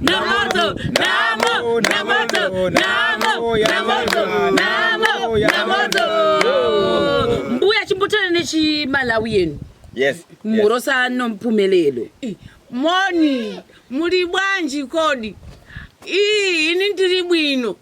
Namoto, namo, namoto, namo, namoto, namo, namoto. Mbuya chimbotana nechimalawi yenu. Yes. Murosa nompumelelo. Moni, muri bwanji kodi? Ii, ini ndiri bwino.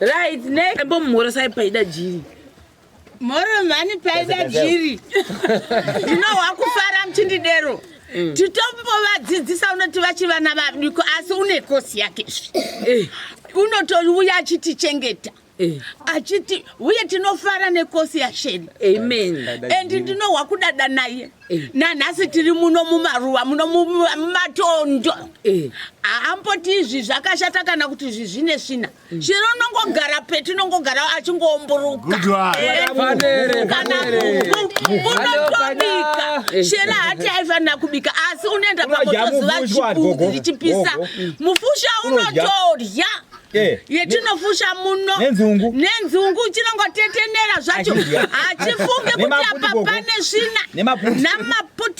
Right, next. Embo mhorosai paida jiri. Moro mhani paida jiri. Ndino wakufara mchindidero. Mm. Titombovadzidzisa unoti vachivana vadiko asi une kosi yake. Eh. Unotouya achitichengeta. Eh. achiti uye tinofara nekosi yasheni amen and ndinohwa kudada naye eh. nanhasi tiri muno mumaruwa muno mumatondo eh. haamboti izvi zvakashata kana kuti izvi zvine svina chero unongogara peti unongogara achingoomburuka unotobika shera hati aifanira kubika asi unoenda pamotoziva chibuku richipisa mufusha unotodya Eh. yetinofusha muno nenzungu chinongotetenera zvacho hachifunge kuti apa pane svina namaputi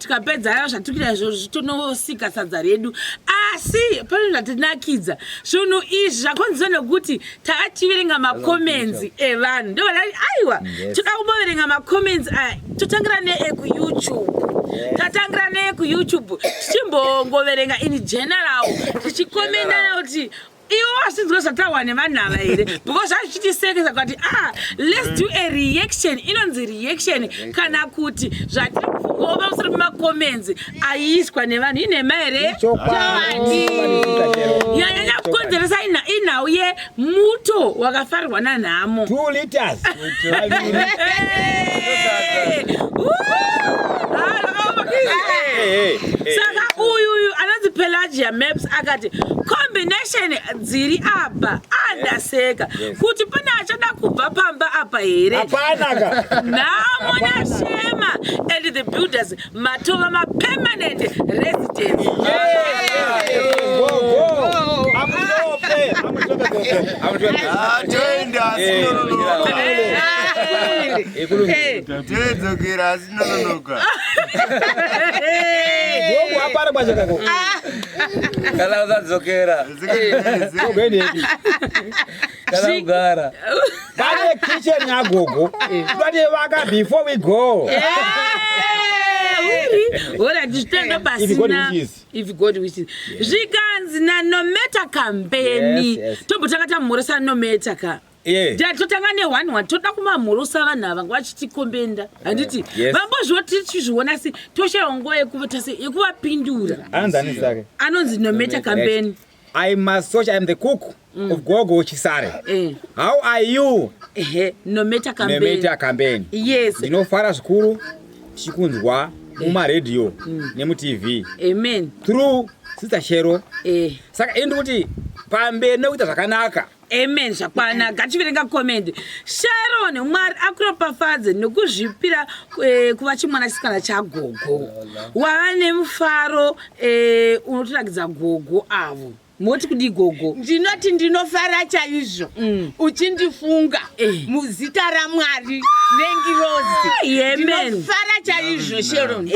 tikapedza aya zvatikuita izvozvo zvitonosika sadza redu asi pane zvatinakidza zvinhu izvi zvakonzwa nekuti takachiverenga makomenzi evanhu ndo vanai aiwa toda kumboverenga makomenzi aya totangira neekuyoutube tatangira neye kuyoutube tichimbongoverenga in general tichikomendana kuti iwo wasinzwe zvatawa nevanhu ava here because zvazvichitisekesa kuti ah let's do a reaction inonzi reaction kana kuti zvatiri kufungawo pamusoro pemacomments ayiiswa nevanhu inhema here chokwadi yanyanya kukonzeresa inhau yemuto wakafarirwa nanhamo two liters saka uyu uyu anonzi pelagia maps akati combination dziri apa andaseka ah, yes. kuti pane achada kubva pamba apa here nhamo nashema and the builders matova mapermanent residence toenda Kala uzadzokera. Kala ugara. Pane kitchen yagogo. Tati vaka before we go. zvichitenda pasina if god wishes zvikanzi nanometa kambeni tombotanga tamhoresa nometa ka Yeah. Dad totanga ne one one toda kumamhurusa vanhu ava vachitikombenda handiti yeah. yes. vambozvoti tichizviona asi toshaya nguva yekuvapindura anonzi nometa kambeni right. I must search, I am the cook mm. of Gogo Chisare. Eh. How are you? Eh, no matter campaign. No matter campaign. Yes. You know, Farah Shukuru, Shikunzwa, eh. Uma Radio, mm. Nemu TV. Amen. Through Sister Shero. Eh. Saka, endi kuti, pambe, no, ita zakanaka. amen zvakwana gativerenga comment sharon mwari akuropafadze nokuzvipira eh, kuva chimwana chisikana chagogo wava nemufaro eh, unotorakidza gogo avo moti kudii gogo ndinoti ndinofara chaizvo mm. uchindifunga eh. muzita ramwari nengiroziofara ah, chaizvo sheron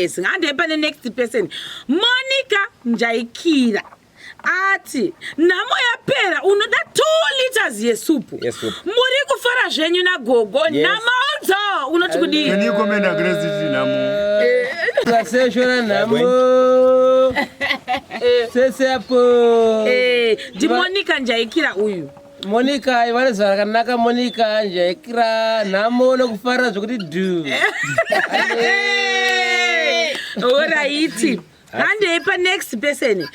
singandepa nenext person monica njaikira ati nhamo yapera unoda two liters yesupu muri kufara zvenyu nagogo yes. nhamo dzo unoti kudii vaseshora nhamo sese apo eh, ndimonika njaikira uyu monika ivane zuva rakanaka monika njaikira nhamo nokufara zvokuti du oraiti handei panext person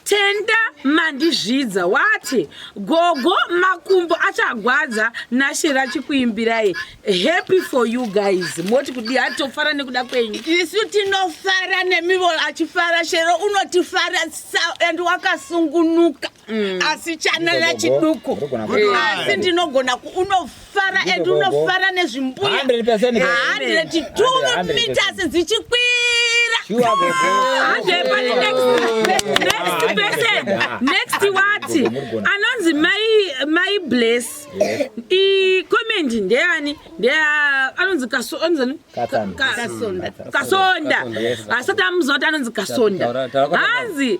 tenda mandizvidza wati gogo makumbo achagwadza nashe rachikuimbirai happy for you guys moti kudi atofara nekuda kwenyu isu tinofara nemivo achifara shero unotifara and wakasungunuka Mm. asi chanela chiduku asi ndinogona unofara and unofara nezvimbuya 102 meters dzichikwira next wati anonzi mai bless comment ndeyani ndeya anonzi kasonda kasonda asati amuziva kuti anonzi kasonda hanzi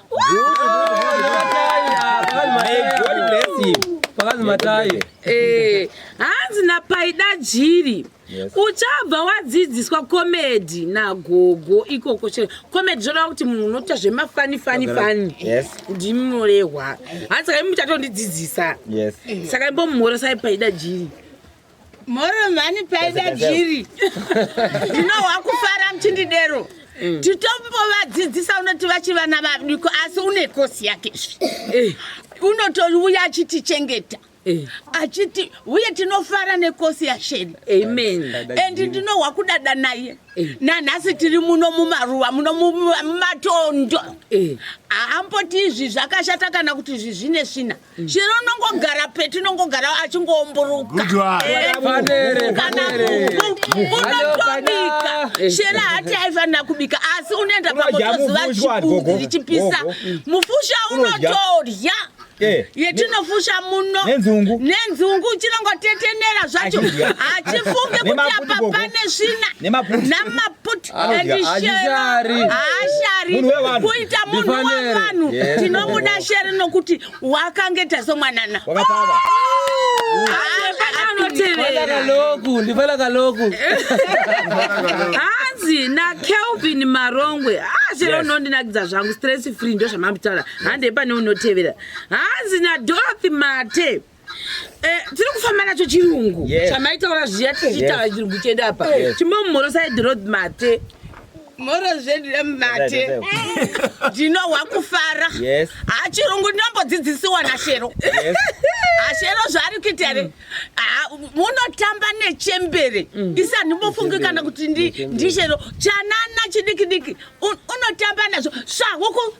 Eh, hanzi napaida jiri uchabva wadzidziswa komedi nagogo ikoko chero komedi zvoreva kuti munhu unoita zvemafanifani fani ndimi munorehwa hanzi saka imi muchatondidzidzisa saka imbomumhoresai paida jiri Moro mhani paida jiri. Ndinohwa kufara mchindidero. Mm. Titombovadzidzisa unoti vachivana vadiko asi une kosi yake. Eh. Unotouya achitichengeta. Eh. achiti uye tinofara nekosi yasheni amen and ndinohwa kudada naye eh. nanhasi tiri muno mumaruva muno mumatondo eh. haamboti izvi zvakashata kana kuti izvi zvine svina chero unongogara petu unongogara achingoomburuka unotobika chero hati aifanira kubika asi unoenda pamotoziva chibudi richipisa mufusha unotodya Eh. yetinofusha muno nenzungu nenzungu chinongotetenera zvacho hachifunge kuti apa pane svina namaputi kuita munhu wavanhu tinomuda sheri nokuti wakange tazomwanana hanzi nakelvin marongwe chero unondinakidza zvangu stress free ndozvamambitaura handei pane unotevera hanzi nadorothy mate Eh, tiri kufamba nacho chirungu chamaitaura zviya tichitaura chirungu chedu apa chimomhoro said road mate mhoro zvedu remate ndinohwa kufara hachirungu ndinombodzidzisiwa nashero ashero zvaari kuita re mm. munotamba nechembere mm. isa ndimbofungi kana kuti ndishero chanana chidikidiki unotamba nazvo svahuku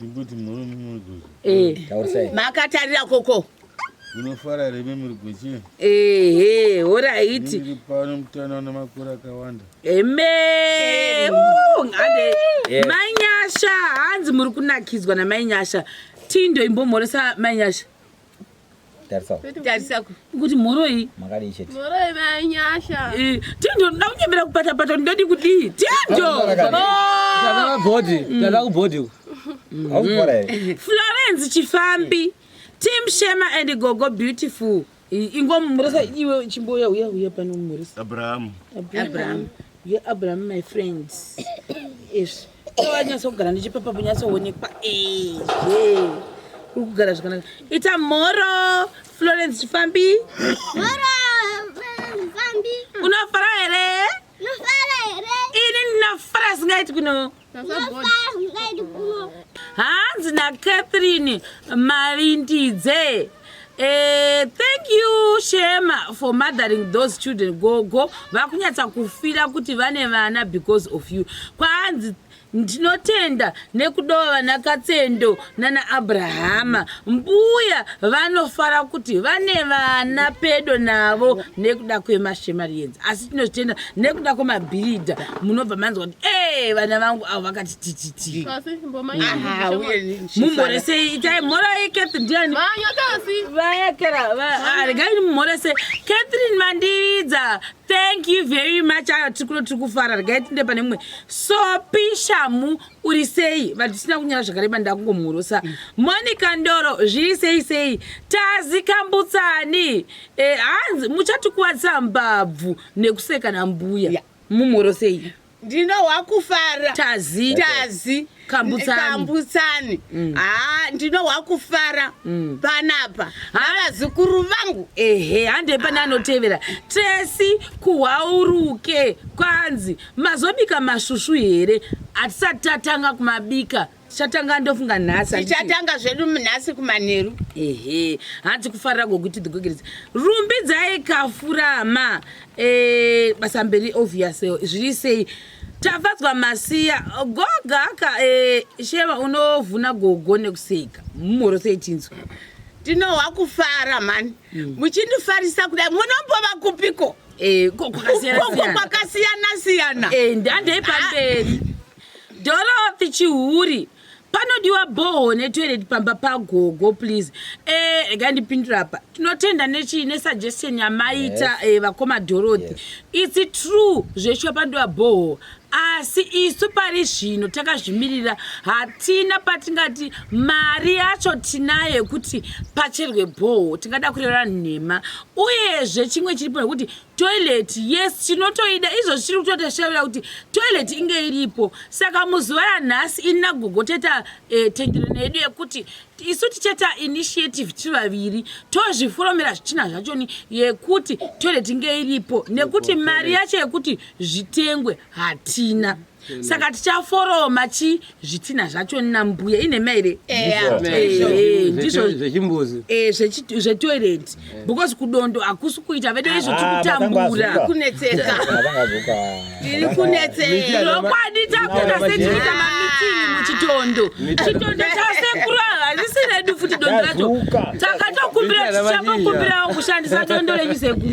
Ndikuti muri murigozhe. Eh. Taurisai. Makatarira koko. Unofara here mimi murigozhe? Ehe, horaiti. Ndiri pano mutana una makore akawanda. Eme. Ngade. Eh. Mai Nyasha, hanzi muri kunakidzwa na Mai Nyasha. Tindo imbomhoresa Mai Nyasha. kuti mhoroi mhoroi vanyasha tindo ndoda kunyemera kupatapata ndodi kudii tindo florence chifambi tim shema and gogo beautiful ingomumurisa iwe chimboya uya uya pano mumurisa abraham abraham ye abraham my friends yes wanyatsogara ndichipepa kunyatsoonekwa ezve uri kugara zvakanaka ita mhoro florence chifambi unofara here ini ndinofara singaiti kuno hanzi nacatherine malindidze Eh, thank you Shema for mothering those children. Gogo vakunyatsa kufira kuti vane vana because of you. Kwanzi ndinotenda nekudova vana Katsendo nana Abrahama. Mbuya vanofara kuti vane vana pedo navo nekuda kwemashema rienzi. Asi tinotenda nekuda kwemabhiridha munobva manzwa kuti eh vana vangu avo vakati mumhoresei itai mhora yeketh ndiani regaini mumhorese catherine mandiridza thank you very much ayo tiri kuno tiri kufara regai tinde pane mumwe sopi shamu uri sei vanhu tisina kunyara zvakareba ndakungomhorosa monica ndoro zviri sei sei tazi kambutsani eh, hanzi muchatikuvadzisa mbabvu nekusekana mbuya mumhorosei ndinohwa kufara tazi tazi kambutsani, kambutsani. Mm. haa ndinohwa kufara mm. panapa havazukuru vangu ehe handei pane ah. anotevera tresi kuhwauruke kwanzi mazobika masvusvu here hatisati tatanga kumabika tichatanga ndofunga nhasi tichatanga zvedu nhasi kumanheru ehe hanzi kufarira gokuti dhigogereza rumbidzai kafurama e, basa mberi obvious zviri sei tafadzwa masiya gogaka e, sheva unovhuna gogo nekuseka mumhoro sei tinzwa tinohwa kufara mhani mm. muchindifarisa kudai munombova kupiko e, kwakasiyana siyana e, ndandeipamberi ah. Dorothy chihuri panodiwa boho netoilet pamba pagogo please eh rega ndipindura apa tinotenda nechii nesuggestion yamaita yes. eh, vakoma dorothy yes. its true zveshuwa panodiwa boho asi isu pari zvino takazvimirira hatina patingati mari yacho tinayo yekuti pacherwe boho tingada kureva nhema uyezve chimwe chiripo nekuti toilet yes tinotoida izvozvi tiri kutotashavira kuti toilet inge iripo saka muzuva ranhasi ini nagogo taita eh, tenderano yedu yekuti isu tichaita initiative tiri vaviri tozvifuromera zvichina zvachoni yekuti toilet inge iripo nekuti mari yacho yekuti zvitengwe hatina saka tichaforoma chi zvitinha zvacho nambuya ine maire ndizvozvechimbuzi zvetoilet because kudondo hakusi kuita vedu izvo tikutambura kunetseka tiri kunetserokwadi takuta setiita mamitini muchitondo chitondo chasekuru hazisi redu futi dondo racho takatokumbira tichakokumbirawo kushandisa dondo renyu sekuru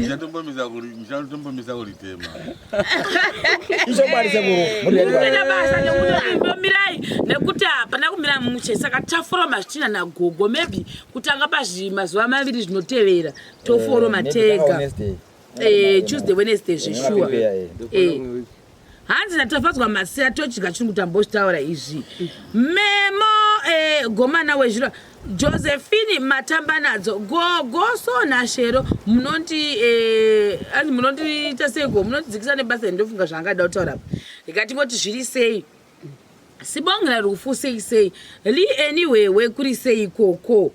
Mira basa nekuti mirai nekuti hapana kumira muche saka taforoma zvitina nagogo maybe kutanga pazvimazuva maviri zvinotevera toforoma eh, tega eh, tuesday wednesday zveshuwa eh, hanzi natafadzwa maseya todya chirungu tambozvitaura izvi memo gomana wezviro Josephine Matambanadzo gogo so naShero munoti eh anzi munoti taseko munoti dzikisa nebasa ndofunga zvaangada kutaura apa ikati ngoti zviri sei sibongela rufu sei sei li anyway we kuri sei koko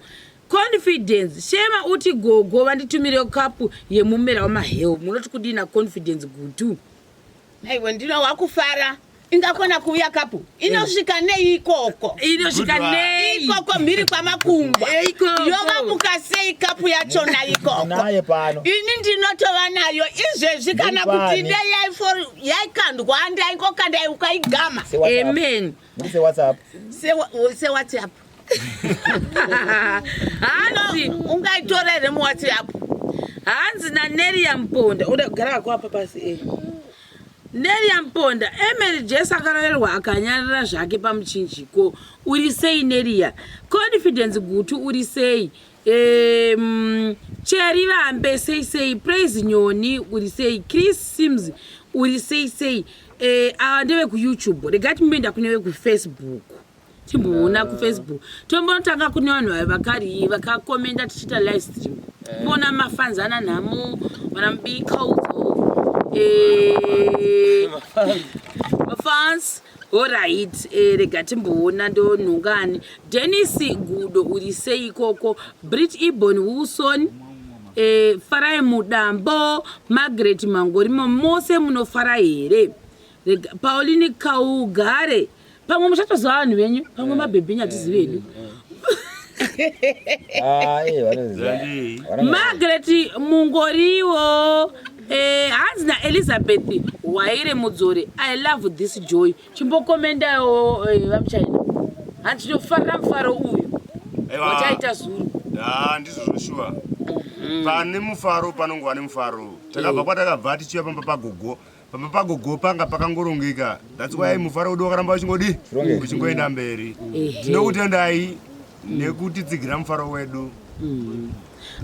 confidence shema uti gogo vanditumire kapu yemumera wamahewu munoti kudina confidence gutu Aiwa ndino wakufara ingakona kuuya kapu inosvika nei ikoko inosvika nei ikoko mhiri kwamakungwa yovamuka sei kapu yachona ikoko ini ndinotova nayo izvezvi kana kuti ine yaikandwa ndaingokanda ukaigama amen sewhatsapp hanzi ungaitora here muwhatsapp hanzi naneria mponda uda kugara wako apa pasi e neria mponda emary jes akarorerwa akanyarara zvake pamuchinjiko uri sei neria confidence gutu uri sei um, cheri vambe sei sei praise nyoni uri sei chris sims uri sei sei eh, awa uh, ndevekuyoutube regatimbe ndakunevekufacebook timboona kufacebook tombotanga kune vanhu vayo vakari vakakomenda tichiita live stream kuona eh. mafanzi ana nhamo vana mubikauzo eh, mafans orit eh, rega timboona ndonhongani denis gudo uri sei ikoko brit ebon wilson farai mudambo margaret mangorimo mose munofara here Rega Pauline kaugare. Pamwe muchatozwa vanhu venyu, pamwe eh, mabhebhinya eh, tizive hedu. Ah, Margaret Mungoriwo eh, hanzi eh, naelizabeth waire mudzore i love this joy chimbokomendawo eh, vamuchaina hanzi tinofarira mufaro uyu wachaita zuru ah, ndizvo zvoshuwa mm-hmm. pane mufaro panongova nemufaro takabva mm. kwatakabva tichiva pamba pagogo pamba pagogo panga pakangorongeka thats why mufaro wedu wakaramba wachingodi uchingoenda mberi tinokutendai nekutitsigira mufaro wedu mm.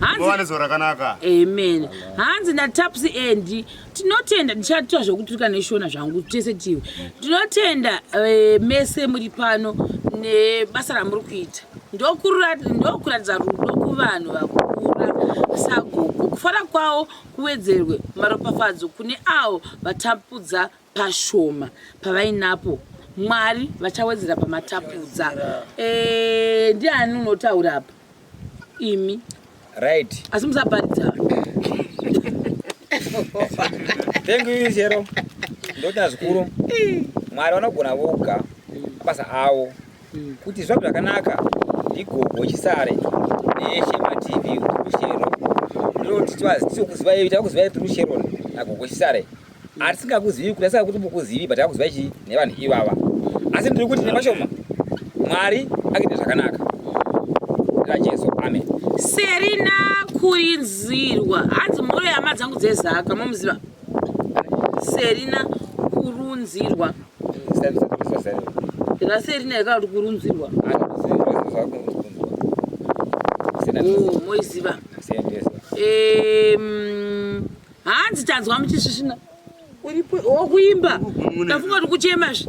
hanzi zuva rakanaka amen hanzi nataps endi tinotenda ndichatoa zvekuturika neshona zvangu tese tiwe tinotenda eh, mese muri pano nebasa ramuri kuita ndokuratidza rudo kuvanhu vakura sagogo kufara kwavo Kuwedzerwe maropafadzo kune avo vatapudza pashoma pavainapo. Mwari vachawedzera pamatapudza. Eh, ndiani unotaura apa? Imi. Right. Asi musabharidza. Thank you Zero. Ndoti nazikuru. Mwari vanogona voga basa avo. Kuti zvaku zvakanaka ndigogo chisare neshe mativi rushero ndinoti twazi tichokuzivai takuzivai kuti rushero nagogo chisare asi tingakuzivi kuti asaka kuti mukuzivi but akuzivai chii nevanhu ivava asi ndiri kuti nemashoma mwari akuita zvakanaka rajesu amen serina kurinzirwa hanzi mhoro yama dzangu dzezaka mamuziva serina kurunzirwa raserina yakati kurunzirwa oh, moiziva hanzi tanzwa muchisvisvina uripo wokuimba ndafunga kuti kuchema zve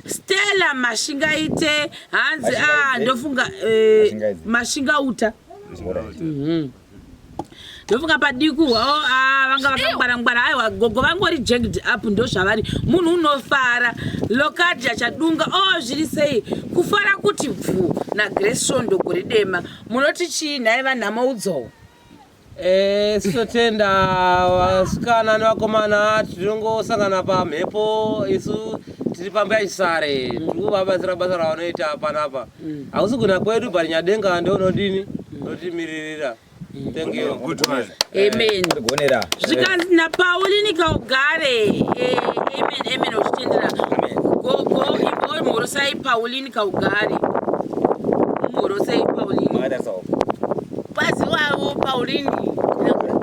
Stella mashingaite hanzi ah ndofunga eh, mashingauta mhm. ndofunga padikuhwa o oh, ah, vanga vakangwarangwara aiwa gogo vangori jagged up ndozvavari munhu unofara lokadi achadunga o oh, zviri sei kufara kuti bvu nagrace svondo gori dema munoti chii nhai vanhama udzowo Eh, sitotenda vasikana nevakomana tinongosangana pamhepo isu tiri pamba yachisare tiri kuvabatsira basa ravanoita panapa mm. hausi kuna kwedu but nyadenga ndounodini mm. notimiririra mm. thank you good one eh, amen gonera zvikanzi na pauli nikaugare eh, amen amen uchitendera go go imhorosai pauli nikaugare imhorosai pauli Pazi wavo Pauline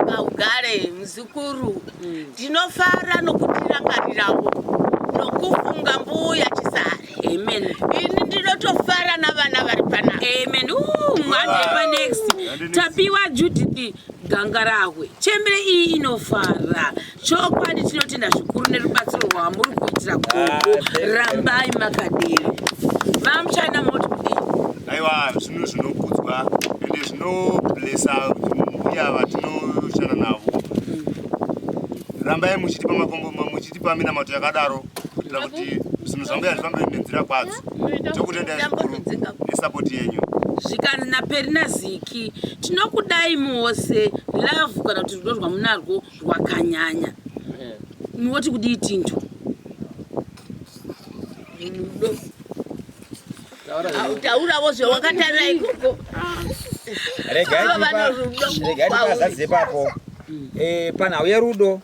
Kaugare muzukuru mm. ndinofara mm. nokutirangariravo nokufunga mbuya Chisare Amen. Ini ndinotofara navana vari pana Amen. Uh, mwana yepa next tapiwa Judith Gangarahwe chembere iyi inofara chokwadi tinotenda zvikuru nerubatsiro rwamuri kuitira gogo rambai makadero vamuchina moti kudii aiwa zvinhu zvinokudzwa ende zvinoblesa mbuya vatinoshanda navo rambai muchitipa makombo muchitipa minamato yakadaro kuitira kuti zvinhu zvambuya zvifambe nenzira kwadzo tokutendai zvikuru nesapoti yenyu zvikanzi naperina ziki tinokudai mose love kana kuti rudo rwamunarwo wakanyanya woti kudii tinjo mudo taurawo zvewakatarira ikoko regaazadze papo eh, panhau yerudo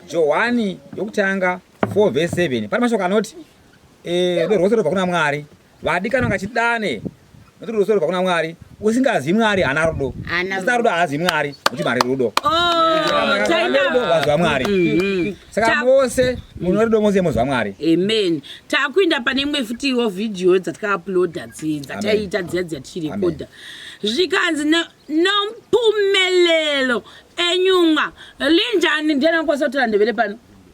johani yokutanga 4 vese 7 pane mashoko anoti eh, rudo rwose rwobva kuna mwari Vadikana ngachidane nokuti rudo sorobva kuna mwari usingazi mwari haana rudo usina rudo haazi mwari kuti mari rudo oh, vaziva mwari mm-hmm. saka mose mune rudo mose moziva mwari amen takuenda pane imwe futiwo vhidhiyo dzatakauploda dzi dzataiita dziya dziya tichirekodha zvikanzi nompumelelo enyumwa linjani ndiyana kwasotora ndevele pano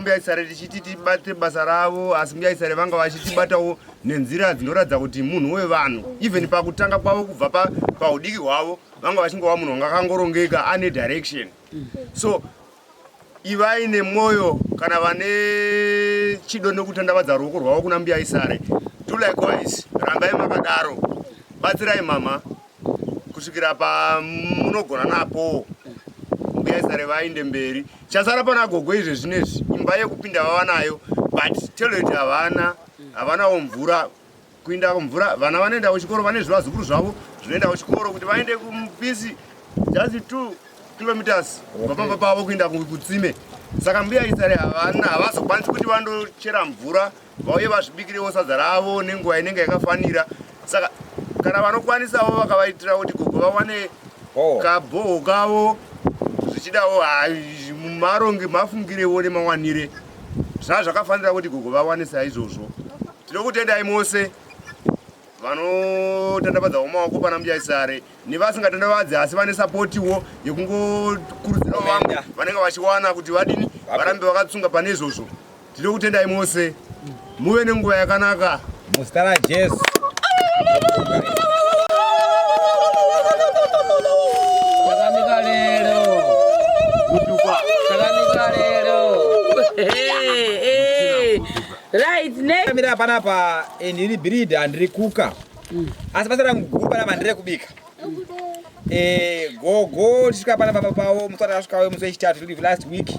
mbuyaisare tichiti tibate basa ravo asi mbuyaisare vanga vachitibatawo nenzira dzinoratidza kuti munhu wevanhu even pakutanga kwavo kubva paudiki hwavo vanga vachingova munhu wanga akangorongeka ane direction so Ivai nemwoyo kana vane chido nekutandavadza ruoko rwavo kuna mbuya isare. Do likewise, rambai makadaro. Batsirai mama kusvikira pamunogona napo mbuya isare vainde mberi. Chasara pana gogo izve zvinezvi imba yekupinda vava nayo but toilet havana, havanawo mvura. kuinda kumvura vana vanoenda kuchikoro vane zvivazukuru zvavo zvinoenda kuchikoro kuti vaende kumupisi just two kilometers vapamba pavo kuinda kutsime saka mbuya isare havana havazokwanisi kuti vandochera mvura vauye vazvibikirewo sadza ravo nenguva inenge yakafanira saka kana vanokwanisawo vakavaitira kuti gogo vawane oh. kabhoho kavo zvichidawo maronge mafungirewo nemawanire zvaa zvakafanira kuti gogo vawane saizvozvo Tinokutendai mose vanotandavadza umaoko pana mjaisare nevasingatandavadzi asi vane sapotiwo yekungokurudzirawo vamwe vanenge vachiwana kuti vadini varambe vakatsunga pane izvozvo tiri kutendai mose muve nenguva yakanaka muzita rajesu Right, ne. Kamira panapa and eh, iri breed and iri kuka. Mm. Asi basa rangu guru panapa ndire kubika. Mm. Eh, gogo tisvika panapa papa pawo musara asvika we musi wechitatu tiri last week.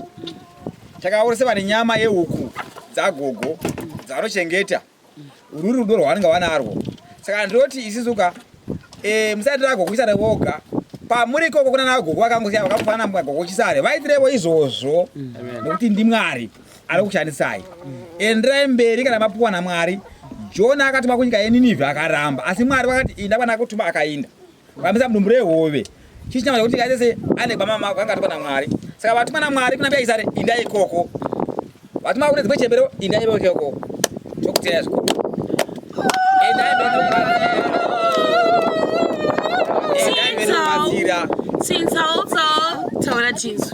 Takaona sevane nyama yehuku dzagogo dzavanochengeta. Uri rudo rwavanenge vanarwo. Saka ndinoti isisu ka eh musati rago kuisa revoga pamuri ikoko kuna nagogo vakangosiya vakafanana mwagogo chisare vaitirevo izvozvo mm. nekuti ndimwari ari kushandisai enderai mberi kana mapuwa namwari jona akatuma kunyika yeninivhi akaramba asi mwari vakati inda kwana akutuma akainda vamisa mudumbu rehove chii chinamaza kuti nyika dzese ane gwama mako anga atuma namwari saka vatuma namwari kuna mbuya isare inda ikoko vatuma kune dzimwe chembero inda ikoko tokuteya zvikoko endai mberi nokubatsira Since how tall? Tell her jeans.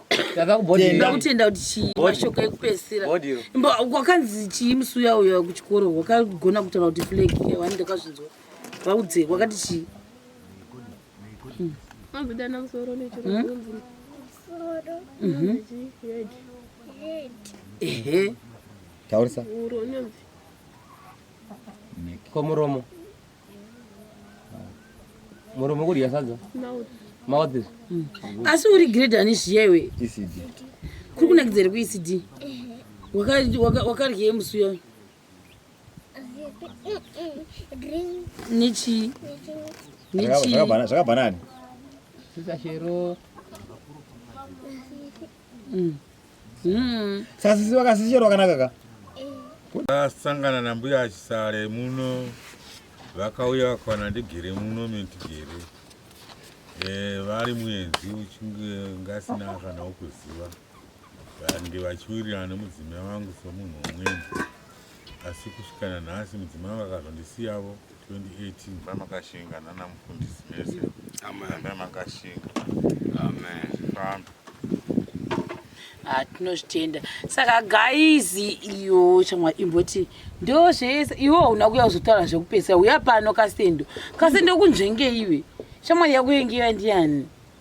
ndakakubhodhira kutenda kuti chii mashoko ekupedzisira wakanzi chii musi uya uya kuchikoro wakagona kutaura kuti flag wani ndakazvinzwa vaudzei wakati chii hmm. hmm? ehe taurisa komuromo muromo kudya sadza mouth hmm. asi uri grade ani zviya iwe ecd kuri kunakidza here kuecd wakaryei musi uyo nechii nechii zvakabanani sisashero Mm. Mm. Sasisi vakasisherwa kanaka ka. Vasangana na mbuya achisare muno vakauya vakawana ndigere muno mendigere eh, vari muenzi uchinge ngasina kana ukuziva vandi vachiwirirana nemudzimai wangu somunhu umweni asi kusvikana nhasi mudzimai vakazondisiyavo 2018 baba makashinga nana mufundisi mese baba makashinga amen fambe ah, tinozvitenda saka gaizi iyo chamwa imboti ndo zvese iwe hauna kuya kuzotaura zvekupedzisa uya pano kasendo kasendo kunzvengeiwe shamwari yakuyengewa ndiani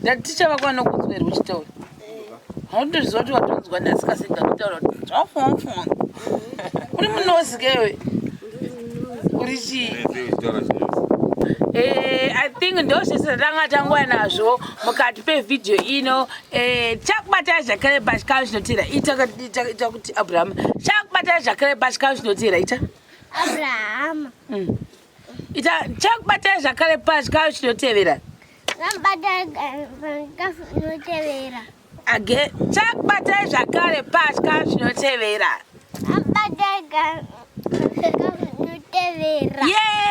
Ndati ticha vako vanokunzwerwa uchitaura. Hautozviziva kuti watonzwa nhasi kasi ndakutaura kuti zvafunga. Uri munozi ke iwe. Uri chii? Eh, I think ndozvese tanga tanguya nazvo mukati pevhidhiyo ino eh, tichakubatira zvakare pachikamu chinotera ita kuti abrahama tichakubatira zvakare pachikamu chinotera ita abrahama mm. ita chakubatai zvakare pachikayo chinotevera inotevera age chakubatai zvakare patya zvinotevera inotevera yeah!